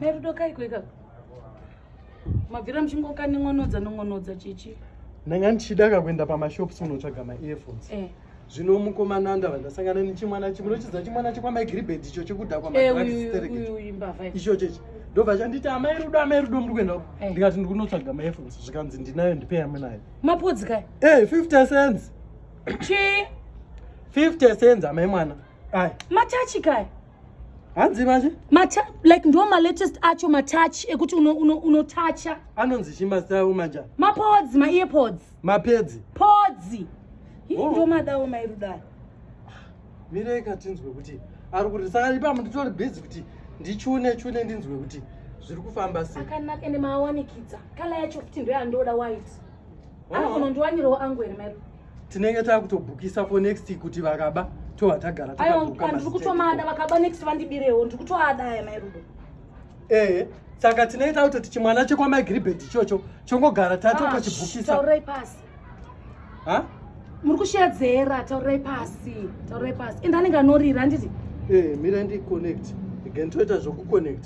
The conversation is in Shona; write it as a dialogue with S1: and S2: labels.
S1: merudo kaiko ikako mabvira muchingokanin'onodza non'onodza chichi ndanga ndichida
S2: kakuenda pamashops kunotsvaga maearphones eh. zvino mukomana ndava ndasangana nechimwana chimwe nochidza chimwana chekwamagribed icho chekudhakwa eh, icho chechi ndobva chanditi amai rudo amai rudo muri kuenda eh. ndikati ndiri kunotsvaga maearphones zvikanzi ndinayo ndipei amwe nayo mapodzi kai e
S1: fifty cents
S2: chi
S1: fifty
S2: cents amai mwana Aye. Matachi kai.
S1: Hanzi
S2: manje? Mata like ndo ma
S1: latest acho matachi ekuti uno uno uno tacha. Anonzi chima
S2: style manje. Ma pods, ma ear
S1: pods. Ma pads.
S2: Pods.
S1: Hii oh. ndo madawo mairudai.
S2: Mireka tinzwe kuti ari kuti saka ipa munditori busy kuti ndichune chune ndinzwe kuti zviri kufamba sei. Akanaka ende maawanikidza.
S1: Kala yacho kuti ndo yandoda white. anokunondiwanirawo angu here maipo tinenge
S2: takutobhukisa for next kuti vakaba tova tagara takaandiri kutomada
S1: vakaba next vandibirewo ndiri kutoada aya mairudo ehe
S2: saka tinenge takutoti chimwana chekwamaigiribhedhi ichocho chongogara tatokachibhukisa taurai pasi
S1: ha muri kushedzera taurai pasi taurai pasi ende anenge anorira handiti ehe mira
S2: ndiconnect again toita zvokuconnect